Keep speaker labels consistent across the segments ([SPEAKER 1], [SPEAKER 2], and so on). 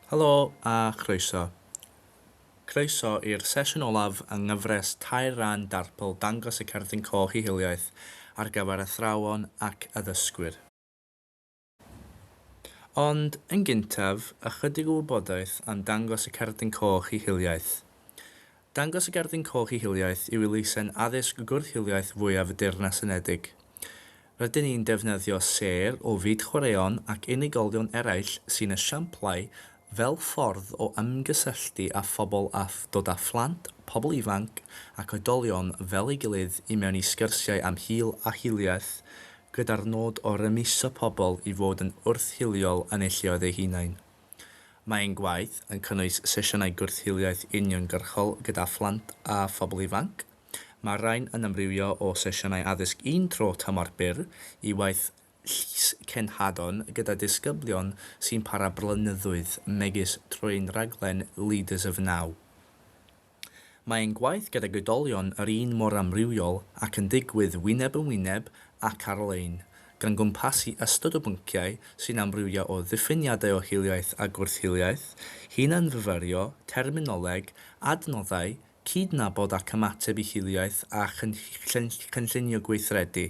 [SPEAKER 1] Helo a chroeso. Croeso i'r sesiwn olaf yng nghyfres tair ran Darpl Dangos y Cerdyn Coch i Hiliaeth ar gyfer athrawon ac addysgwyr. Ond yn gyntaf, ychydig o wybodaeth am Dangos y Cerdyn Coch i Hiliaeth. Dangos y Gerdyn Coch i Hiliaeth yw elusen addysg gwrth-hiliaeth fwyaf y Deyrnas Unedig. Rydyn ni'n defnyddio sêr o fyd chwaraeon ac unigolion eraill sy'n esiamplau fel ffordd o ymgysylltu â phobl a dod â phlant, pobl ifanc ac oedolion fel ei gilydd i mewn i sgyrsiau am hil a hiliaeth gyda'r nod o rymuso pobl i fod yn wrth-hiliol yn eu lleoedd eu hunain. Mae ein gwaith yn cynnwys sesiynau gwrth-hiliaeth uniongyrchol gyda phlant a phobl ifanc. Mae'r rhain yn amrywio o sesiynau addysg un tro tymor byr i waith llys cenhadon gyda disgyblion sy'n para blynyddoedd megis trwy'n rhaglen Leaders of Now. Mae ein gwaith gydag oedolion yr un mor amrywiol ac yn digwydd wyneb yn wyneb ac ar-lein, gan gwmpasu ystod o bynciau sy'n amrywio o ddiffiniadau o hiliaeth a gwrth-hiliaeth, hunan-fyfyrio, terminoleg, adnoddau, cydnabod ac ymateb i hiliaeth a chynllunio gweithredu.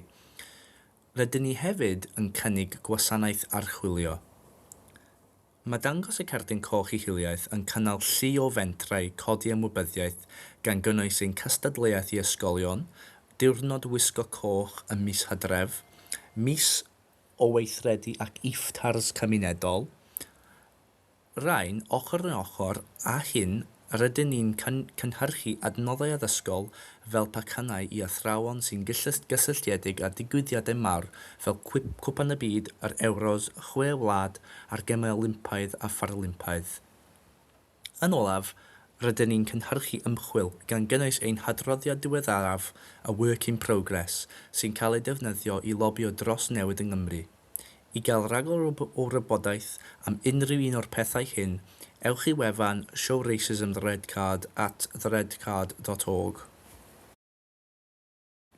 [SPEAKER 1] Rydyn ni hefyd yn cynnig gwasanaeth archwilio. Mae dangos y Cerdyn Coch i Hiliaeth yn cynnal llu o fentrau codi ymwybyddiaeth gan gynnwys ein cystadleuaeth i ysgolion, Diwrnod Wisgo Coch ym mis Hydref, mis o weithredu ac iftars cymunedol, Rhain ochr yn ochr â hyn Rydyn ni'n cynhyrchu adnoddau addysgol fel pacannau i athrawon sy'n gysylltiedig â digwyddiadau mawr fel Cwpan y Byd, yr Ewros, y Chwe Wlad a'r Gemau Olympaidd a Pharalympaidd. Yn olaf, rydyn ni'n cynhyrchu ymchwil, gan gynnwys ein hadroddiad diweddaraf, A Work in Progress, sy'n cael ei defnyddio i lobïo dros newid yng Nghymru. I gael rhagor o wybodaeth am unrhyw un o'r pethau hyn, ewch i wefan Show Racism the Red Card at theredcard.org.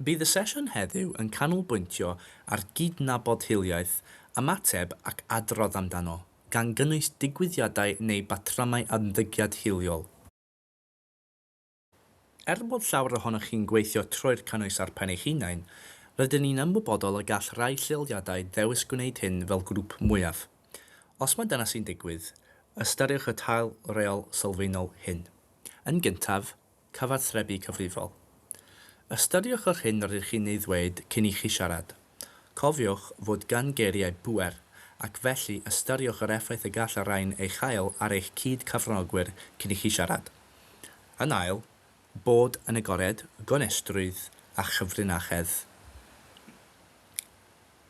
[SPEAKER 1] Bydd y sesiwn heddiw yn canolbwyntio ar gydnabod hiliaeth, ymateb ac adrodd amdano, gan gynnwys digwyddiadau neu batrymau ymddygiad hiliol. Er bod llawer ohonoch chi'n gweithio trwy'r cynnwys ar pen eich hunain, rydyn ni'n ymwybodol y gall rhai lleoliadau ddewis gwneud hyn fel grŵp mwyaf. Os mae dyna sy'n digwydd, ystyriwch y tail reol sylfaenol hyn. Yn gyntaf, cyfathrebu cyfrifol. Ystyriwch yr hyn rydych chi'n ei ddweud cyn i chi siarad. Cofiwch fod gan geiriau bŵer, ac felly ystyriwch yr effaith y gall y rhain ei chael ar eich cyd-cyfranogwyr cyn i chi siarad. Yn ail, bod yn agored, gonestrwydd a chyfrinachedd.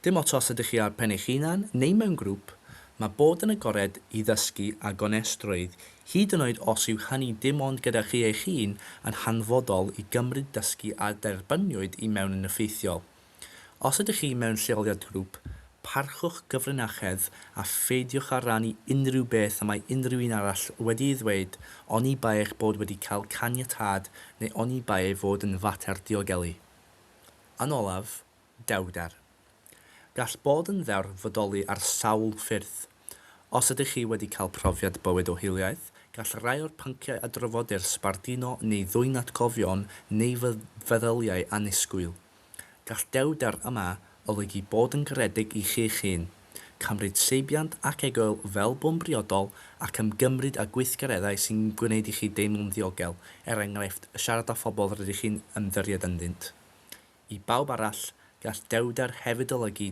[SPEAKER 1] Dim ots os ydych chi ar pen eich hunan neu mewn grŵp, mae bod yn agored i ddysgu a gonestrwydd, hyd yn oed os yw hynny dim ond gyda chi eich hun, yn hanfodol i gymryd dysgu a dderbyniwyd i mewn yn effeithiol. Os ydych chi mewn lleoliad grŵp, parchwch gyfrinachedd a pheidiwch â rhannu unrhyw beth y mae unrhyw un arall wedi'i ddweud oni bai eich bod wedi cael caniatâd neu oni bai ei fod yn fater diogelu. Yn olaf, dewrder. Gall bod yn ddewr fodoli ar sawl ffyrdd. Os ydych chi wedi cael profiad bywyd o hiliaeth, gall rai o'r pynciau a drafodir sbarduno neu ddwyn atgofion neu feddyliau annisgwyl. Gall dewrder yma olygu bod yn garedig i chi'ch hun, cymryd seibiant ac egoel fel bo'n briodol ac ymgymryd â gweithgareddau sy'n gwneud i chi deimlo'n ddiogel, er enghraifft, siarad â phobl rydych chi'n ymddiried ynddynt. I bawb arall, gall dewrder hefyd olygu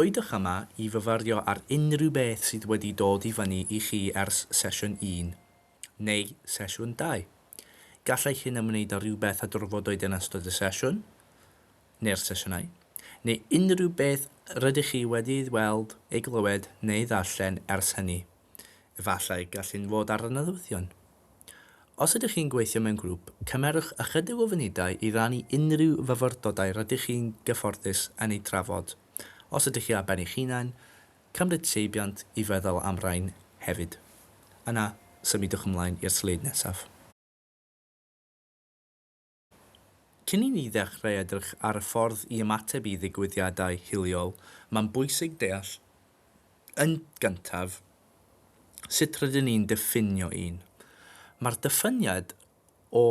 [SPEAKER 1] Oeddech yma i fyfyrio ar unrhyw beth sydd wedi dod i fyny i chi ers sesiwn un, neu sesiwn dau. Gallai hyn ymwneud â rhywbeth a drafodwyd yn ystod y sesiwn, neu'r sesiynau, neu unrhyw beth rydych chi wedi ei weld, ei glywed neu ei ddarllen ers hynny. Efallai gall hyn fod ar y nodweddion. Os ydych chi'n gweithio mewn grŵp, cymerwch ychydig o funudau i rannu unrhyw fyfyrdodau rydych chi'n gyfforddus yn eu trafod. Os ydych chi ar ben eich hunain, cymryd seibiant i feddwl am rain hefyd. Yna, symudwch ymlaen i'r sleid nesaf. Cyn i ni ddechrau edrych ar y ffordd i ymateb i ddigwyddiadau hiliol, mae'n bwysig deall yn gyntaf sut rydyn ni'n diffinio un. Mae'r dyfyniad o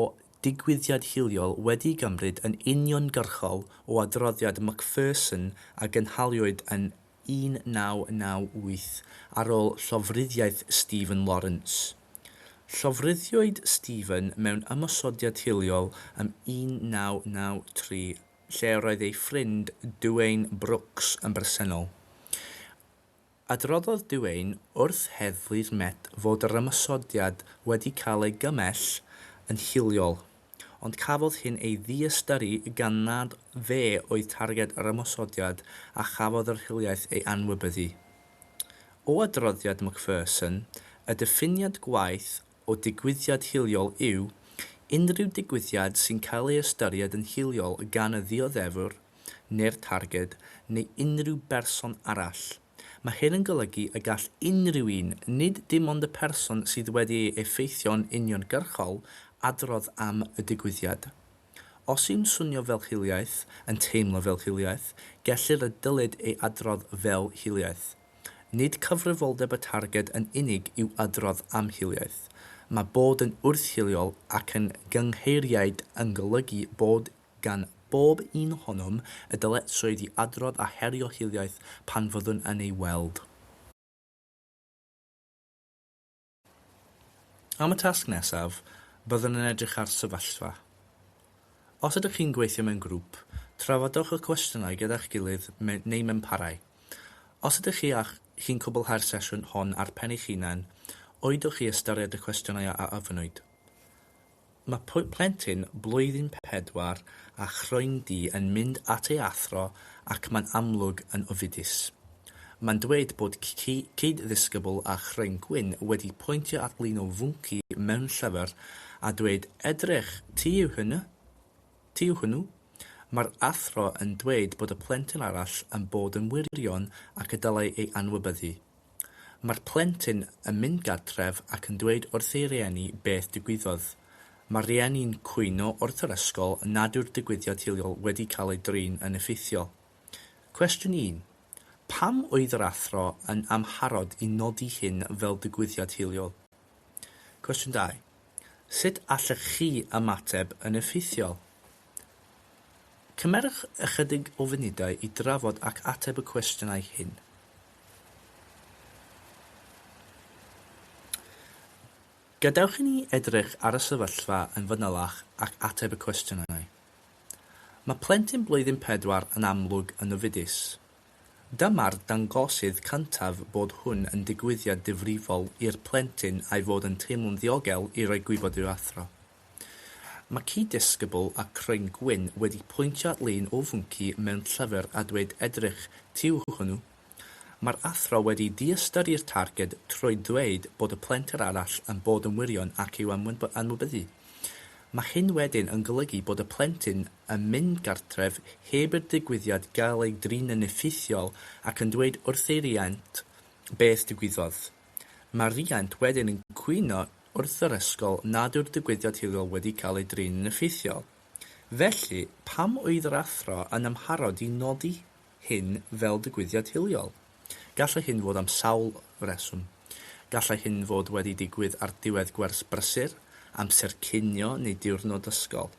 [SPEAKER 1] ddigwyddiad hiliol wedi'i gymryd yn uniongyrchol o adroddiad Macpherson a gynhaliwyd yn 1998 ar ôl llofruddiaeth Stephen Lawrence. Llofruddiwyd Stephen mewn ymosodiad hiliol ym 1993 lle yr oedd ei ffrind Duane Brooks yn bresennol. Adroddodd Duane wrth Heddlu'r Met fod yr ymosodiad wedi cael ei gymell yn hiliol. ond cafodd hyn ei ddiystyru gan nad fe oedd targed yr ymosodiad a chafodd yr hiliaeth ei anwybyddu. O adroddiad Macpherson, y diffiniad gwaeth o digwyddiad hiliol yw unrhyw digwyddiad sy'n cael ei ystyried yn hiliol gan y ddioddefwr neu'r targed neu unrhyw berson arall, Mae hyn yn golygu y gall unrhyw un, nid dim ond y person sydd wedi ei effeithio'n uniongyrchol, adrodd am y digwyddiad. Os yw'n swnio fel hiliaeth, yn teimlo fel hiliaeth, gellir a dylid ei adrodd fel hiliaeth. Nid cyfrifoldeb y targed yn unig yw adrodd am hiliaeth. Mae bod yn wrth-hiliol ac yn gyngheiriaid yn golygu bod gan bob un ohonom y dyletswydd i adrodd a herio hiliaeth pan fyddwn yn ei weld. Am y tasg nesaf, byddwn yn edrych ar sefyllfa. Os ydych chi'n gweithio mewn grŵp, trafodwch y cwestiynau gyda'ch gilydd neu mewn parau. Os ydych chi a chi'n cwblhau'r sesiwn hon ar pen eich hunain, oeddwch chi ystyried y cwestiynau a ofynwyd? Mae plentyn blwyddyn pedwar â chroendi yn mynd at ei athro ac mae'n amlwg yn ofidus. Mae'n dweud bod cyd-ddisgybl â chroen gwyn wedi pwyntio at lun o fwnci mewn llyfr a dweud 'edrych, ti yw hwnnw? Ti yw hwnnw? Mae'r athro yn dweud bod y plentyn arall yn bod yn wirion ac y dylai ei anwybyddu. Mae'r plentyn yn mynd gartref ac yn dweud wrth ei rieni beth digwyddodd. Mae'r rieni'n cwyno wrth yr ysgol nad yw'r digwyddiad hiliol wedi cael ei drin yn effeithiol. Cwestiwn un, Pam oedd yr athro yn amharod i nodi hyn fel digwyddiad hiliol? Cwestiwn dau, Sut allech chi ymateb yn effeithiol? Cymerwch ychydig o funudau i drafod ac ateb y cwestiynau hyn. Gadewch i ni edrych ar y sefyllfa yn fanylach ac ateb y cwestiynau. Mae plentyn blwyddyn pedwar yn amlwg yn ofidus. Dyma'r dangosydd cyntaf bod hwn yn digwyddiad difrifol i'r plentyn a'i fod yn teimlo'n ddiogel i roi gwybod i'w athro. Mae cyd-ddisgybl a Craen Gwyn wedi pwyntio at lun o fwnci mewn llyfr a dweud edrych tu yw hwnnw. Mae'r athro wedi diystyri'r targed trwy ddweud bod y plentyn arall yn bod yn wirion ac yw am ymwybyddu. Mae hyn wedyn yn golygu bod y plentyn yn mynd gartref heb i'r digwyddiad gael ei drin yn effeithiol ac yn dweud wrth ei riant beth digwyddodd. Mae rhiant wedyn yn cwyno wrth yr ysgol nad yw'r digwyddiad hiliol wedi cael ei drin yn effeithiol. Felly, pam oedd yr athro yn amharod i nodi hyn fel digwyddiad hiliol? Gallai hyn fod am sawl reswm. Gallai hyn fod wedi digwydd ar ddiwedd gwers brysur, amser cinio neu diwrnod ysgol.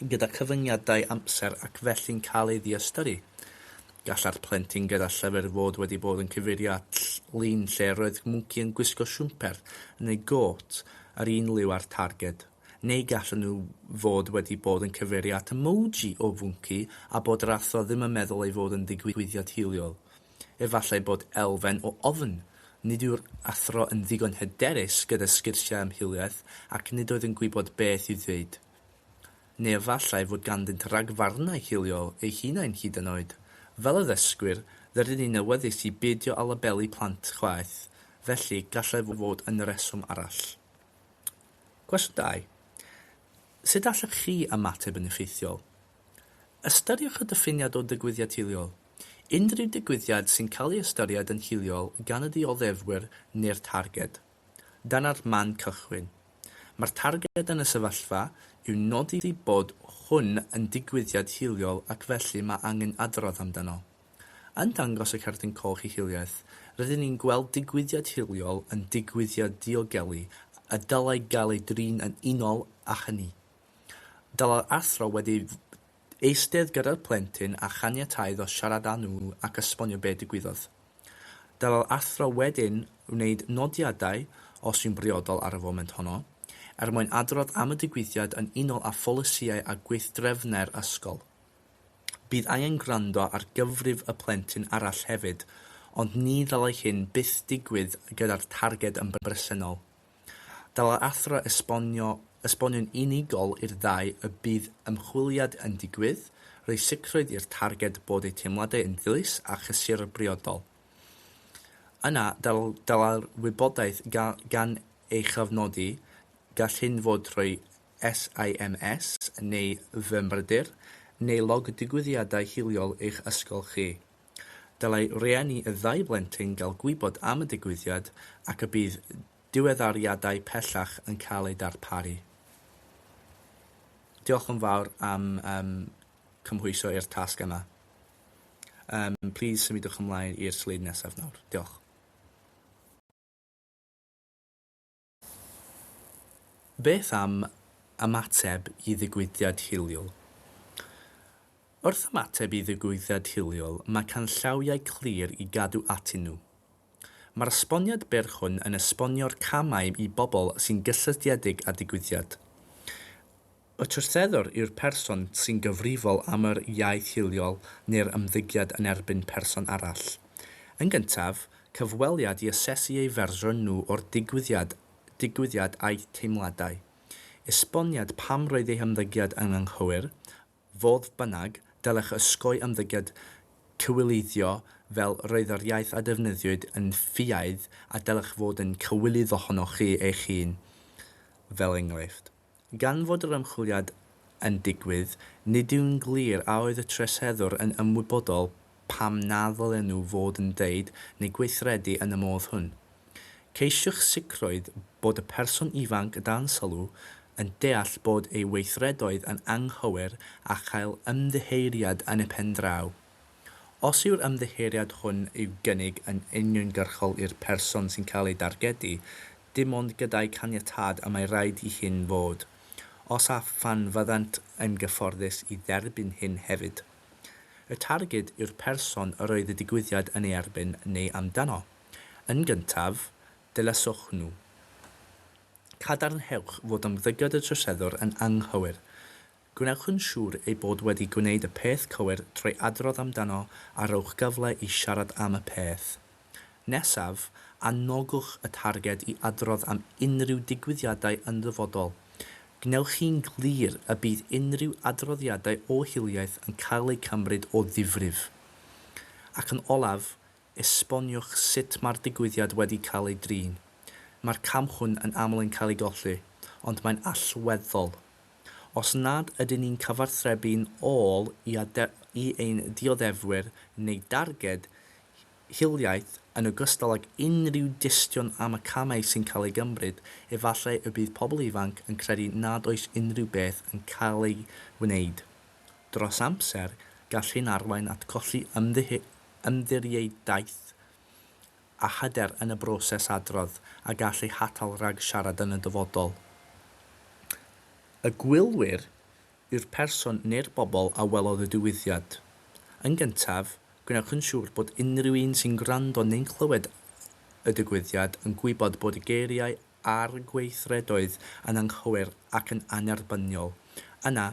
[SPEAKER 1] gyda chyfyngiadau amser ac felly'n cael ei ddiystyru. Gallai'r plentyn gyda llyfr fod wedi bod yn cyfeirio at lun lle roedd mwnci yn gwisgo siwmper neu gôt yr un liw â'r targed, neu gallen nhw fod wedi bod yn cyfeirio at emoji o fwnci a bod yr athro ddim yn meddwl ei fod yn ddigwyddiad hiliol. Efallai bod elfen o ofn. Nid yw'r athro yn ddigon hyderus gyda sgyrsiau am hiliaeth ac nid oedd yn gwybod beth i'w ddweud. Neu efallai fod ganddynt ragfarnau hiliol eu hunain hyd yn oed. Fel addysgwyr, rydyn ni'n awyddus i beidio â labelu plant chwaeth, felly gallai fod yn reswm arall. Cwestiwn dau, Sut allech chi ymateb yn effeithiol? Ystyriwch y diffiniad o ddigwyddiad hiliol. Unrhyw ddigwyddiad sy'n cael ei ystyried yn hiliol gan y dioddefwyr neu'r targed. Dyna'r man cychwyn. Mae'r targed yn y sefyllfa yw nodi bod hwn yn digwyddiad hiliol ac felly mae angen adrodd amdano. Yn dangos y Cerdyn Coch ei hiliaeth, rydyn ni'n gweld digwyddiad hiliol yn digwyddiad diogelu a dylai gael ei drin yn unol â hynny. Dylai'r athro wedi eistedd gyda'r plentyn a chaniatáu iddo siarad â nhw ac esbonio be' digwyddodd. Dylai'r athro wedyn wneud nodiadau, os yw'n briodol ar y foment honno, er mwyn adrodd am y digwyddiad yn unol â pholisïau a gweithdrefnau'r ysgol. Bydd angen gwrando ar gyfrif y plentyn arall hefyd, ond ni ddylai hyn byth digwydd gyda'r targed yn bresennol. Dylai'r athro esbonio, esbonio'n unigol i'r ddau y bydd ymchwiliad yn digwydd, rhoi sicrwydd i'r targed bod eu teimladau yn ddilys a chysur a briodol. Yna, dylai'r wybodaeth gael gan ei chofnodi, gall hyn fod trwy SIMS neu Fy Mrydyr, neu log digwyddiadau hiliol eich ysgol chi. Dylai rhieni y ddau blentyn gael gwybod am y digwyddiad ac y bydd diweddariadau pellach yn cael eu darparu. Diolch yn fawr am um, cymhwyso i'r tasg yma. Um, please symudwch ymlaen i'r sleid nesaf nawr. Diolch. Beth am ymateb i ddigwyddiad hiliol? Wrth ymateb i ddigwyddiad hiliol, mae canllawiau clir i gadw atyn nhw. Mae'r esboniad byr hwn yn esbonio'r camau i bobl sy'n gysylltiedig â digwyddiad. Y troseddwr yw'r person sy'n gyfrifol am yr iaith hiliol neu'r ymddygiad yn erbyn person arall. Yn gyntaf, cyfweliad i asesu eu fersiwn nhw o'r digwyddiad digwyddiad a'u teimladau. Esboniad pam roedd eu hymddygiad yn anghywir, fodd bynnag, dylech osgoi ymddygiad cywileiddio fel 'roedd yr iaith a defnyddiwyd yn ffiaidd' a dylech fod yn cywilydd ohonoch chi eich hun, fel enghraifft. Gan fod yr ymchwiliad yn digwydd, nid yw'n glir a oedd y troseddwr yn ymwybodol pam na ddylen nhw fod yn dweud neu gweithredu yn y modd hwn. Ceisiwch sicrwydd bod y person ifanc y dansalw yn deall bod ei weithredoedd yn anghywir a chael ymddiheuriad yn y pen draw. Os yw'r ymddiheuriad hwn i'w gynnig yn uniongyrchol i'r person sy'n cael ei dargedu, dim ond gyda'i caniatâd y mae raid i hyn fod, os a phan fyddant yn gyfforddus i dderbyn hyn hefyd. Y targed yw'r person yr oedd y digwyddiad yn ei erbyn neu amdano. Yn gyntaf, dilyswch nhw. Cadarnhewch fod ymddygiad y troseddwr yn anghywir. Gwnewch yn siŵr ei bod wedi gwneud y peth cywir trwy adrodd amdano a rhowch gyfle i siarad am y peth. Nesaf, anogwch y targed i adrodd am unrhyw digwyddiadau yn ddyfodol. Gwnewch hi'n glir y bydd unrhyw adroddiadau o hiliaeth yn cael eu cymryd o ddifrif. Ac yn olaf, Esboniwch sut mae'r digwyddiad wedi cael ei drin. Mae'r cam hwn yn aml yn cael ei golli, ond mae'n allweddol. Os nad ydyn ni'n cyfathrebu'n ôl i i ein dioddefwyr neu darged hiliaeth, yn ogystal ag unrhyw dystion am y camau sy'n cael eu gymryd, efallai y bydd pobl ifanc yn credu nad oes unrhyw beth yn cael ei wneud. Dros amser, gall hyn arwain at golli ymddiriedaeth a hyder yn y broses adrodd a gall eu hatal rhag siarad yn y dyfodol. Y gwylwyr yw'r person neu'r bobl a welodd y digwyddiad. Yn gyntaf, gwnewch yn siŵr bod unrhyw un sy'n gwrando neu'n clywed y digwyddiad yn gwybod bod y geiriau ar gweithredoedd yn anghywir ac yn annerbyniol, yna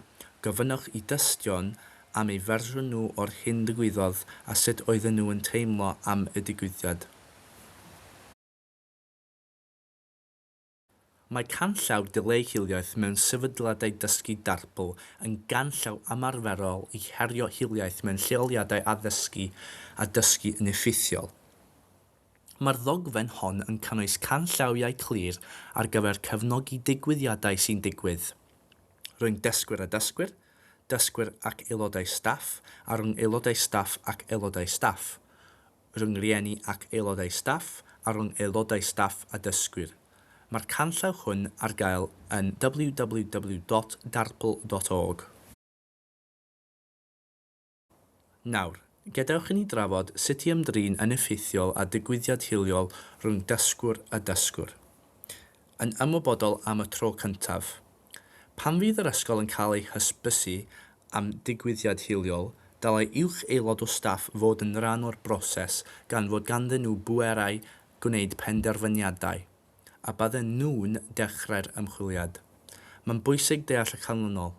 [SPEAKER 1] gofynnwch i dystion am eu fersiwn nhw o'r hyn ddigwyddodd a sut oedden nhw yn teimlo am y digwyddiad. Mae canllaw Dileu Hiliaeth mewn Sefydliadau Dysgu Darbl yn ganllaw ymarferol i herio hiliaeth mewn lleoliadau addysgu a dysgu yn effeithiol. Mae'r ddogfen hon yn cynnwys canllawiau clir ar gyfer cefnogi digwyddiadau sy'n digwydd rhwng dysgwyr a dysgwyr, dysgwyr ac aelodau staff a rhwng aelodau staff ac aelodau staff, rhwng rhieni ac aelodau staff a rhwng aelodau staff a dysgwyr. Mae'r canllaw hwn ar gael yn www.darpl.org. Nawr, gadewch i ni drafod sut i ymdrin yn effeithiol â digwyddiad hiliol rhwng dysgwr a dysgwr. Yn ymwybodol am y tro cyntaf. Pan fydd yr ysgol yn cael ei hysbysu am digwyddiad hiliol, dylai uwch aelod o staff fod yn rhan o'r broses gan fod ganddyn nhw bwerau gwneud penderfyniadau, a bydden nhw'n dechrau'r ymchwiliad. Mae'n bwysig deall y canlynol.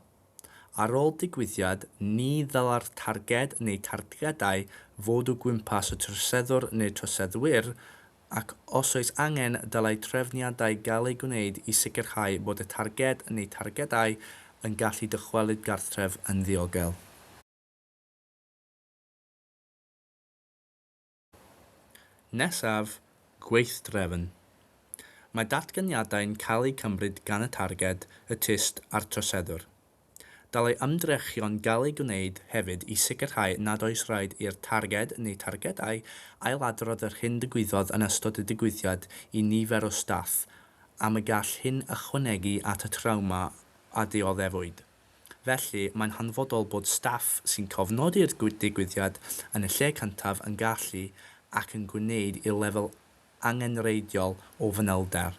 [SPEAKER 1] Ar ôl digwyddiad, ni ddylai'r targed neu targedau fod o gwmpas y troseddwr neu'r troseddwyr, ac os oes angen, dylai trefniadau gael eu gwneud i sicrhau bod y targed neu targedau yn gallu dychwelyd gartref yn ddiogel. Nesaf, Gweithdrefn. Mae datganiadau'n cael eu cymryd gan y targed, y tyst a'r troseddwr. Dylai ymdrechion gael eu gwneud hefyd i sicrhau nad oes rhaid i'r targed neu targedau ailadrodd yr hyn ddigwyddodd yn ystod y digwyddiad i nifer o staff am y gall hyn ychwanegu at y trawma a dioddefwyd. Felly, mae'n hanfodol bod staff sy'n cofnodi'r digwyddiad yn y lle cyntaf yn gallu ac yn gwneud i'r lefel angenrheidiol o fanylder.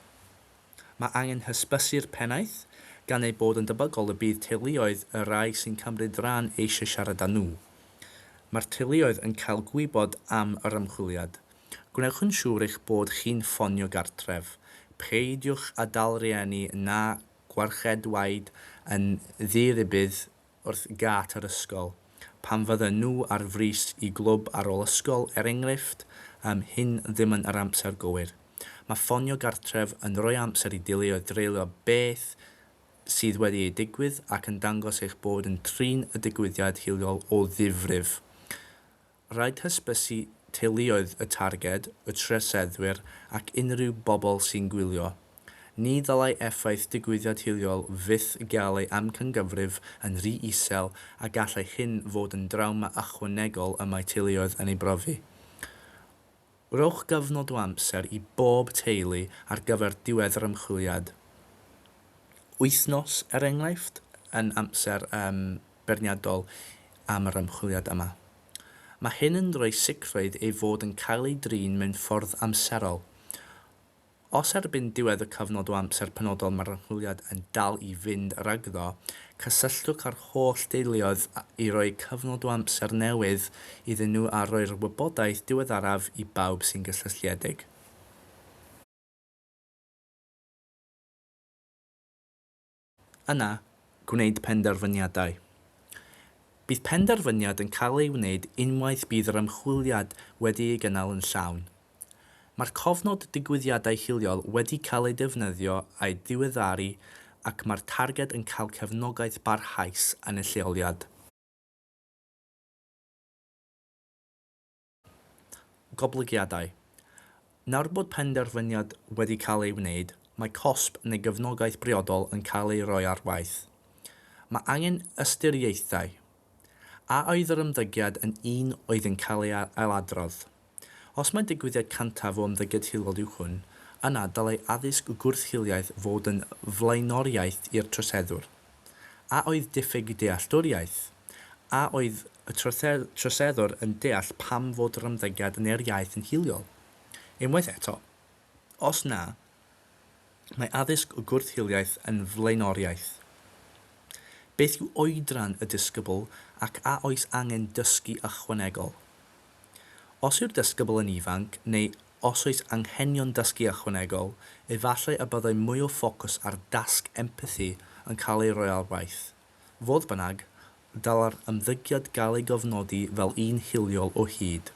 [SPEAKER 1] Mae angen hysbysu'r pennaeth, gan ei bod yn debygol y bydd teuluoedd y rhai sy'n cymryd rhan eisiau siarad â nhw. Mae'r teuluoedd yn cael gwybod am yr ymchwiliad. Gwnewch yn siŵr eich bod chi'n ffonio gartref. Peidiwch â dal rhieni na Gwarchedwaid yn ddi-rybudd wrth gât yr ysgol, pan fydden nhw ar frys i glwb ar ôl ysgol, er enghraifft, yym, hyn ddim yn yr amser gywir. Mae ffonio gartref yn rhoi amser i deuluoedd dreulio beth sydd wedi ei digwydd ac yn dangos eich bod yn trin y digwyddiad hiliol o ddifrif. Rhaid hysbysu teuluoedd y targed, y troseddwyr ac unrhyw bobl sy'n gwylio. Ni ddylai effaith digwyddiad hiliol fyth gael ei amcangyfrif yn rhy isel a gallai hyn fod yn drawma ychwanegol y mae teuluoedd yn ei brofi. Rhowch gyfnod o amser i bob teulu ar gyfer diwedd yr ymchwiliad. Wythnos, er enghraifft, yn amser beirniadol am yr ymchwiliad yma. Mae hyn yn rhoi sicrwydd ei fod yn cael ei drin mewn ffordd amserol. Os erbyn diwedd y cyfnod o amser penodol mae'r archwiliad yn dal i fynd rhagddo, cysylltwch â'r holl deuluoedd i roi cyfnod o amser newydd iddyn nhw a rhoi'r wybodaeth diweddaraf i bawb sy'n gysylltiedig. yna gwneud penderfyniadau. Bydd penderfyniad yn cael ei wneud unwaith bydd yr ymchwiliad wedi ei gynnal yn llawn. Mae'r cofnod digwyddiadau hiliol wedi cael ei defnyddio a'i diweddaru ac mae'r targed yn cael cefnogaeth barhaus yn y lleoliad. goblygiadau. Nawr bod penderfyniad wedi cael ei wneud, mae cosb neu gefnogaeth briodol yn cael ei roi ar waith. Mae angen ystyriaethau. A oedd yr ymddygiad yn un oedd yn cael ei ailadrodd? Os mai digwyddiad cyntaf o ymddygiad hiliol yw hwn, yna dylai addysg gwrth-hiliaeth fod yn flaenoriaeth i'r troseddwr. A oedd diffyg dealltwriaeth? A oedd y troseddwr yn deall pam fod yr ymddygiad yn yr iaith yn hiliol? Unwaith eto, os na, mae addysg o gwrth-hiliaeth yn flaenoriaeth. Beth yw oedran y disgybl ac a oes angen dysgu ychwanegol? Os yw'r disgybl yn ifanc neu os oes anghenion dysgu ychwanegol, efallai y byddai mwy o ffocws ar dasg empathi yn cael ei roi ar waith. Fodd bynnag, dylai'r ymddygiad gael ei gofnodi fel un hiliol o hyd.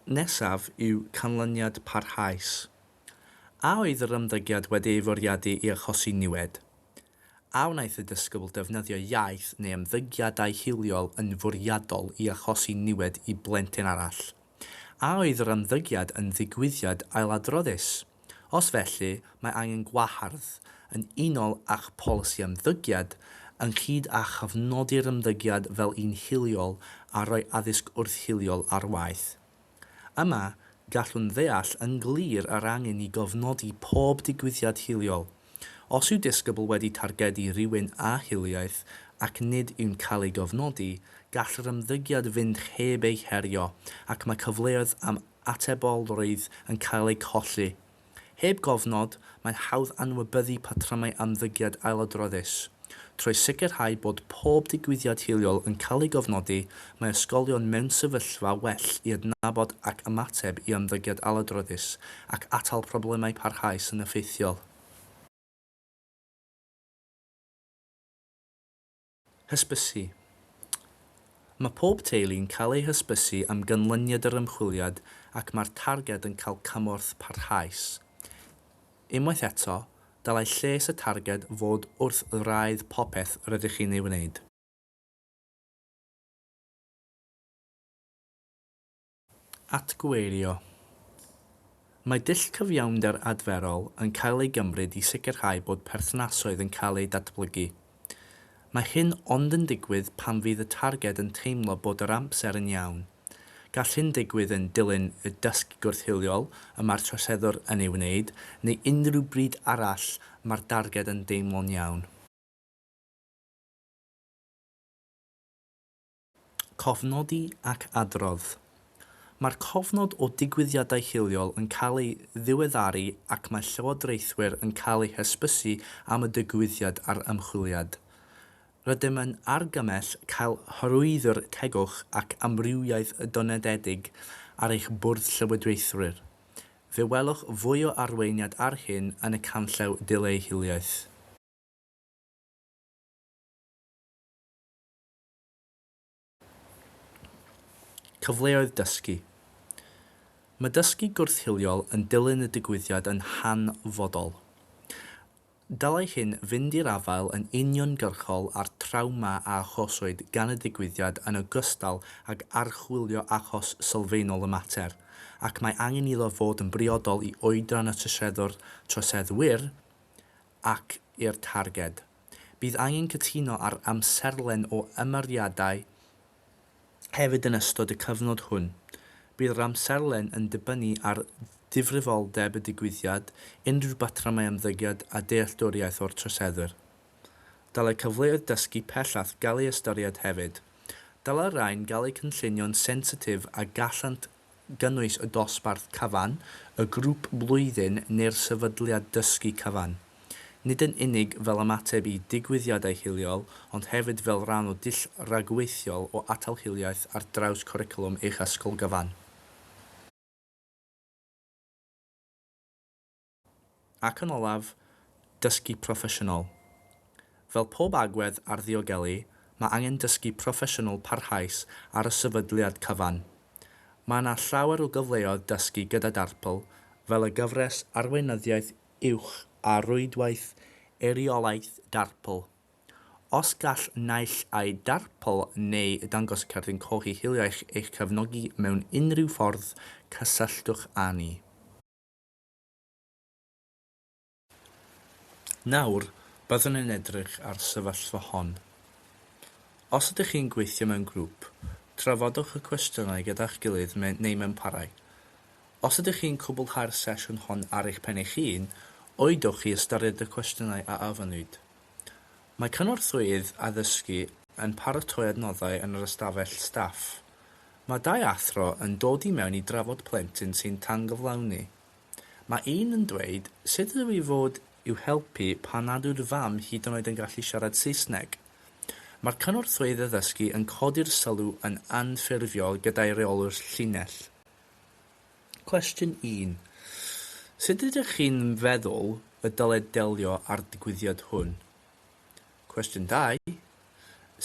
[SPEAKER 1] Nesaf yw canlyniad parhaus. A oedd yr ymddygiad wedi ei fwriadu i achosi niwed? A wnaeth y disgybl ddefnyddio iaith neu ymddygiadau hiliol yn fwriadol i achosi niwed i blentyn arall? A oedd yr ymddygiad yn ddigwyddiad ailadroddus? Os felly, mae angen gwahardd yn unol â'ch polisi ymddygiad, ynghyd â chofnodi'r ymddygiad fel un hiliol a rhoi addysg wrth-hiliol ar waith. Yma, gallwn ddeall yn glir yr angen i gofnodi pob digwyddiad hiliol. Os yw disgybl wedi targedu rhywun â hiliaeth ac nid yw'n cael ei gofnodi, gall yr ymddygiad fynd heb ei herio ac mae cyfleoedd am atebolrwydd yn cael eu colli. Heb gofnod, mae'n hawdd anwybyddu patrymau ymddygiad ailadroddus. Trwy sicrhau bod pob digwyddiad hiliol yn cael ei gofnodi, mae ysgolion mewn sefyllfa well i adnabod ac ymateb i ymddygiad ailadroddus ac atal problemau parhaus yn effeithiol. Hysbysu. Mae pob teulu'n cael eu hysbysu am ganlyniad yr ymchwiliad ac mae'r targed yn cael cymorth parhaus. Unwaith eto, dylai lles y targed fod wrth wraidd popeth rydych chi'n ei wneud. Atgyweirio, Mae dull cyfiawnder adferol yn cael ei gymryd i sicrhau bod perthnasoedd yn cael eu datblygu. Mae hyn ond yn digwydd pan fydd y targed yn teimlo bod yr amser yn iawn. Gall hyn ddigwydd yn dilyn y dysg gwrth-hiliol y mae'r troseddwr yn ei wneud, neu unrhyw bryd arall mae'r darged yn deimlo'n iawn. Cofnodi ac adrodd. Mae'r cofnod o digwyddiadau hiliol yn cael ei ddiweddaru ac mae llywodraethwyr yn cael eu hysbysu am y digwyddiad a'r ymchwiliad. Rydym yn argymell cael hyrwyddo'r tegwch ac amrywiaeth donededig ar eich Bwrdd Llywodraethwyr. Fe welwch fwy o arweiniad ar hyn yn y canllaw Dileu Hiliaeth. Cyfleoedd dysgu Mae dysgu gwrth-hiliol yn dilyn y digwyddiad yn hanfodol. Dylai hyn fynd i'r afael yn uniongyrchol â'r trawma a achoswyd gan y digwyddiad yn ogystal ag archwilio achos sylfaenol y mater, ac mae angen iddo fod yn briodol i oedran y troseddwr, troseddwyr, ac i'r targed. Bydd angen cytuno ar amserlen o ymyriadau hefyd yn ystod y cyfnod hwn. Bydd yr amserlen yn dibynnu ar ddifrifoldeb y digwyddiad, unrhyw batrymau ymddygiad a dealltwriaeth o'r troseddwyr. Dylai cyfleoedd dysgu pellach gael eu ystyried hefyd. Dylai'r rhain gael eu cynllunio'n sensitif a gallant gynnwys y dosbarth cyfan, y grŵp blwyddyn neu'r sefydliad dysgu cyfan. Nid yn unig fel ymateb i digwyddiadau hiliol, ond hefyd fel rhan o dull ragweithiol o atal hiliaeth ar draws cwricwlwm eich ysgol gyfan. Ac yn olaf, dysgu proffesiynol. Fel pob agwedd ar ddiogelu, mae angen dysgu proffesiynol parhaus ar y sefydliad cyfan. Mae yna llawer o gyfleoedd dysgu gyda Darpl, fel y gyfres Arweinyddiaeth Uwch a Rwydwaith Eiriolaeth Darpl. Os gall naill ai Darpl neu Dangos Cerdyn Cochi Hiliaeth eich cefnogi mewn unrhyw ffordd, cysylltwch â ni. Nawr, byddwn yn edrych ar y sefyllfa hon. Os ydych chi'n gweithio mewn grŵp, trafodwch y cwestiynau gyda'ch gilydd neu mewn parau. Os ydych chi'n cwblhau'r sesiwn hon ar eich pen eich hun, oeddwch i ystyried y cwestiynau a ofynnwyd. Mae cynorthwyydd addysgu yn paratoi adnoddau yn yr ystafell staff. Mae dau athro yn dod i mewn i drafod plentyn sy'n tangyflawni. Mae un yn dweud, 'Sut ydw i fod i'w helpu pan nad yw'r fam hyd yn oed yn gallu siarad Saesneg? Mae'r cynorthwyydd addysgu yn codi'r sylw yn anffurfiol gyda'i reolwr llinell. Cwestiwn 1. Sut ydych chi'n feddwl y dyled delio â'r digwyddiad hwn? Cwestiwn 2.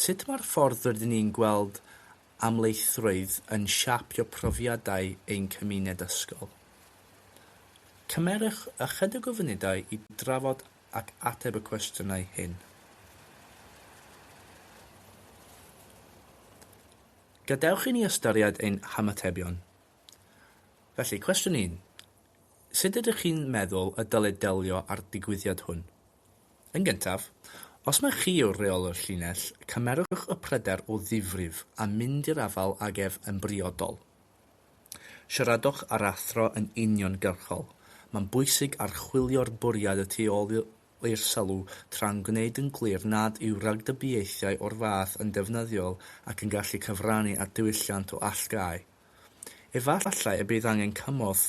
[SPEAKER 1] Sut mae'r ffordd rydyn ni'n gweld amlieithrwydd yn siapio profiadau ein cymuned ysgol? Cymerwch ychydig o funudau i drafod ac ateb y cwestiynau hyn. Gadewch i ni ystyried ein hymatebion. Felly, cwestiwn un, sut ydych chi'n meddwl y dylid delio â'r digwyddiad hwn? Yn gyntaf, os mai chi yw'r rheolwr llinell, cymerwch y pryder o ddifrif a mynd i'r afael ag ef yn briodol. Siaradwch â'r athro yn uniongyrchol, mae'n bwysig archwilio'r bwriad y tu ôl i'r sylw tra'n gwneud yn glir nad yw rhagdybiaethau o'r fath yn defnyddiol ac yn gallu cyfrannu at ddiwylliant o allgáu. Efallai y bydd angen cymorth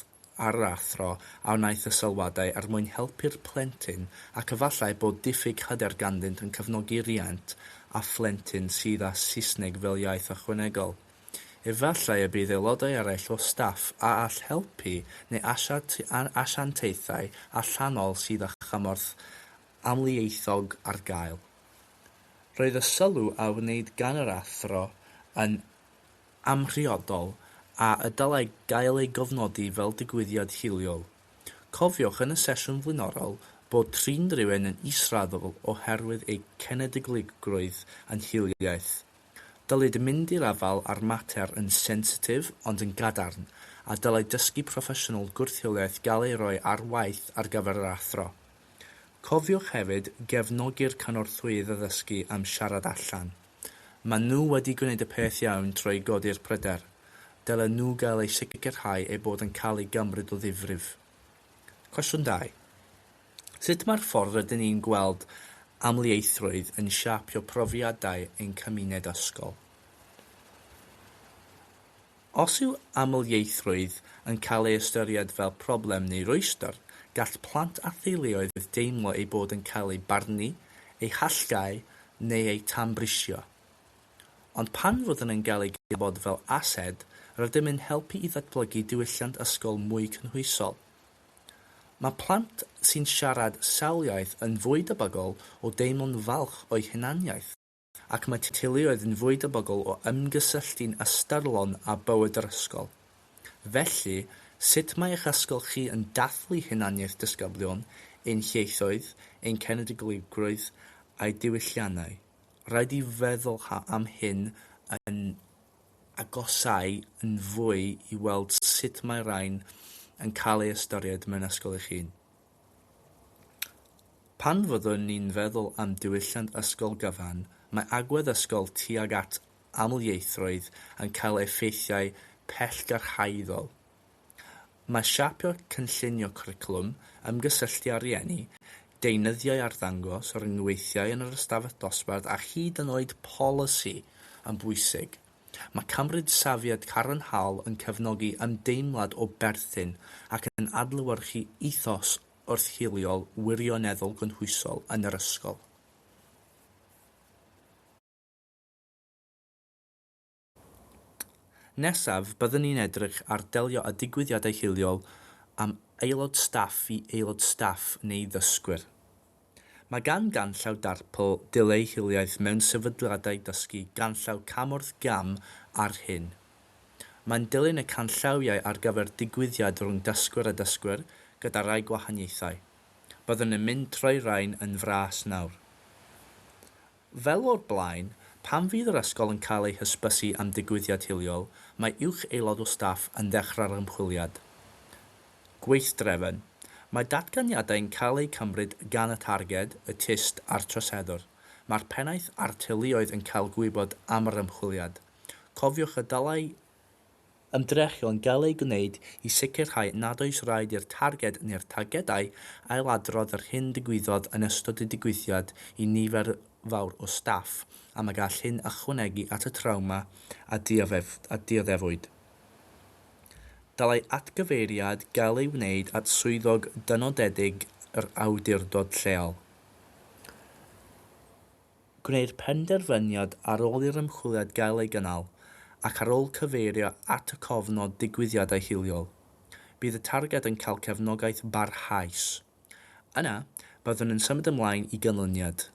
[SPEAKER 1] ar yr athro a wnaeth y sylwadau er mwyn helpu'r plentyn ac efallai bod diffyg hyder ganddynt yn cefnogi rhiant â phlentyn sydd â Saesneg fel iaith ychwanegol. Efallai y bydd aelodau eraill o staff a all helpu neu asiantaethau allanol sydd â chymorth amlieithog ar gael. Roedd y sylw a wneud gan yr athro yn amhriodol a y dylai gael ei gofnodi fel digwyddiad hiliol. Cofiwch yn y sesiwn flaenorol bod trin rhywun yn israddol oherwydd eu cenedligrwydd yn hiliaeth. Dylid mynd i'r afael â'r mater yn sensitif ond yn gadarn, a dylai dysgu proffesiynol gwrth-hiliaeth gael ei roi ar waith ar gyfer yr athro. Cofiwch hefyd gefnogi'r cynorthwyydd addysgu am siarad allan. Maen nhw wedi gwneud y peth iawn trwy godi'r pryder. Dylen nhw gael eu sicrhau eu bod yn cael eu cymryd o ddifrif. Cwestiwn dau. Sut mae'r ffordd rydyn ni'n gweld amlieithrwydd yn siapio profiadau ein cymuned ysgol? Os yw amlieithrwydd yn cael ei ystyried fel problem neu rwystr, gall plant a theuluoedd deimlo eu bod yn cael eu barnu, eu hallgáu neu eu tanbrisio. Ond pan fyddwn yn cael ei gydnabod fel ased, rydym yn helpu i ddatblygu diwylliant ysgol mwy cynhwysol. Mae plant sy'n siarad sawl iaith yn fwy debygol o deimlo'n falch o'u hunaniaeth. ac mae teuluoedd yn fwy debygol o ymgysylltu'n ystyrlon â bywyd yr ysgol. Felly, sut mae eich ysgol chi yn dathlu hunaniaeth disgyblion, ein hieithoedd, ein cenedligrwydd a'i diwylliannau? Rhaid i feddwl am hyn yn agosáu yn fwy i weld sut mae rhain yn cael eu ystyried mewn ysgol eich hun. Pan fyddwn ni'n feddwl am diwylliant ysgol gyfan, mae agwedd ysgol tuag at amlieithrwydd yn cael effeithiau pellgyrhaeddol. Mae siapio cynllunio cwricwlwm, ymgysylltu â rhieni, deunyddiau arddangos, rhyngweithiau yn yr ystafell dosbarth a hyd yn oed polisi yn bwysig. Mae cymryd safiad cadarnhaol yn cefnogi ymdeimlad o berthyn ac yn adlewyrchu ethos wrth-hiliol wirioneddol gynhwysol yn yr ysgol. Nesaf, byddwn ni'n edrych ar delio â digwyddiadau hiliol am aelod staff i aelod staff neu ddysgwyr. Mae gan ganllaw darpl dull ei hiliaeth mewn sefydliadau dysgu ganllaw cam wrth gam ar hyn. Mae'n dilyn y canllawiau ar gyfer digwyddiad rhwng dysgwr a dysgwr gyda rhai gwahaniaethau. Byddwn yn mynd trwy rain yn fras nawr. Fel o'r blaen, pan fydd yr ysgol yn cael ei hysbysu am ddigwyddiad hiliol, mae uwch aelod o staff yn dechrau'r ymchwiliad. Gweithdrefn. Mae datganiadau yn cael eu cymryd gan y targed, y tyst a'r troseddwr. Mae'r pennaeth a'r teuluoedd yn cael gwybod am yr ymchwiliad. Cofiwch y dylai Ymdrechion gael eu gwneud i sicrhau nad oes raid i'r targed neu'r targedau ailadrodd yr hyn ddigwyddodd yn ystod y digwyddiad i nifer fawr o staff, am y gall hyn ychwanegu at y trawma a dioddefwyd. Dylai atgyfeiriad gael ei wneud at swyddog dynodedig yr awdurdod lleol. gwneir penderfyniad ar ôl i'r ymchwiliad gael ei gynnal ac ar ôl cyfeirio at y cofnod digwyddiadau hiliol. Bydd y targed yn cael cefnogaeth barhaus. Yna, byddwn yn symud ymlaen i ganlyniad,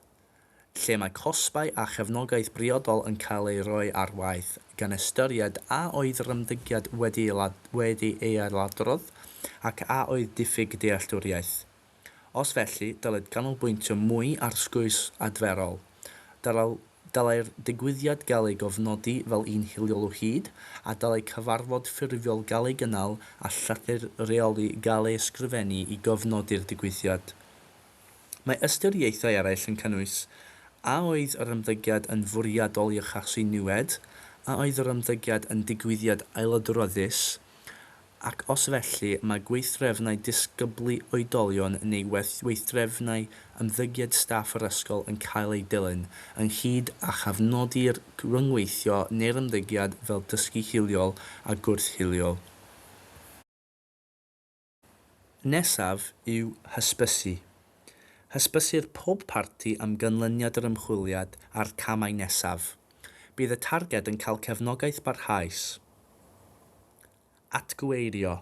[SPEAKER 1] lle mae cosbau a chefnogaeth briodol yn cael eu rhoi ar waith, gan ystyried a oedd yr ymddygiad wedi ei ailadrodd ac a oedd diffyg dealltwriaeth. Os felly, dylid canolbwyntio mwy ar sgwrs adferol. Dylai'r digwyddiad gael ei gofnodi fel un hiliol o hyd, a dylai cyfarfod ffurfiol gael ei gynnal a llythyr rheoli gael ei ysgrifennu i gofnodi'r digwyddiad. Mae ystyriaethau eraill yn cynnwys, A oedd yr ymddygiad yn fwriadol i achosi niwed? A oedd yr ymddygiad yn digwyddiad ailadroddus? ac os felly, mae gweithdrefnau disgyblu oedolion neu weithdrefnau ymddygiad staff yr ysgol yn cael eu dilyn, ynghyd â chofnodi'r rhyngweithio neu'r ymddygiad fel dysgu hiliol a gwrth-hiliol. Y peth nesaf yw hysbysu. Hysbysir pob parti am ganlyniad yr ymchwiliad a'r camau nesaf. Bydd y targed yn cael cefnogaeth barhaus. Atgyweirio.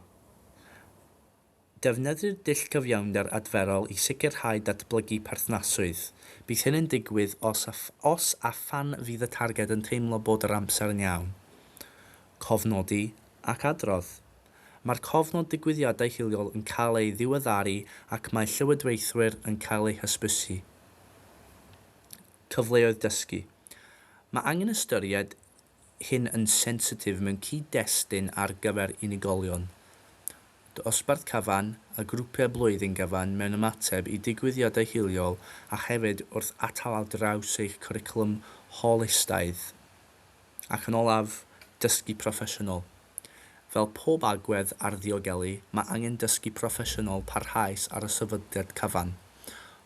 [SPEAKER 1] Defnyddir dull cyfiawnder adferol i sicrhau datblygu perthnasrwydd. Bydd hyn yn digwydd os a, os a phan fydd y targed yn teimlo bod yr amser yn iawn. Cofnodi ac adrodd. Mae'r cofnod digwyddiadau hiliol yn cael ei ddiweddaru ac mae llywodraethwyr yn cael eu hysbysu. Cyfleoedd dysgu. Mae angen ystyried hyn yn sensitif mewn cyd-destun ar gyfer unigolion. Dosbarth cyfan a grwpiau blwyddyn gyfan mewn ymateb i digwyddiadau hiliol a hefyd wrth atal ar draws eich cwricwlwm holistaidd. Ac yn olaf, dysgu proffesiynol. Fel pob agwedd ar ddiogelu, mae angen dysgu proffesiynol parhaus ar y sefydliad cyfan.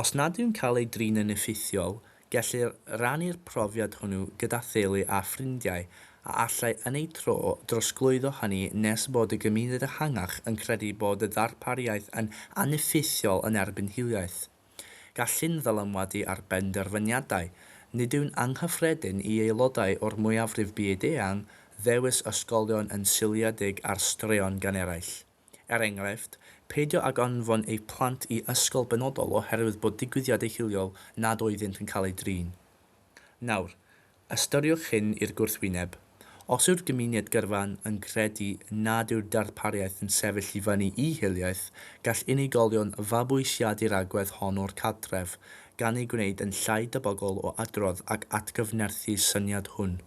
[SPEAKER 1] Os nad yw'n cael ei drin yn effeithiol, gellir rannu'r profiad hwnnw gyda theulu a ffrindiau, a allai yn eu tro drosglwyddo hynny nes bod y gymuned ehangach yn credu bod y ddarpariaeth yn aneffeithiol yn erbyn hiliaeth. Gall hyn ddylanwadu ar benderfyniadau. Nid yw'n anghyffredin i aelodau o'r mwyafrif byd-eang ddewis ysgolion yn seiliedig ar straeon gan eraill. Er enghraifft, peidio ag anfon eich plant i ysgol benodol oherwydd bod digwyddiadau hiliol nad oeddynt yn cael eu drin. Nawr, ystyriwch hyn i'r gwrthwyneb. Os yw'r gymuned gyrfa'n yn credu nad yw'r darpariaeth yn sefyll i fyny i hiliaeth, gall unigolion fabwysiadu'r agwedd hon o'r cartref, gan eu gwneud yn llai debygol o adrodd ac atgyfnerthu'r syniad hwn.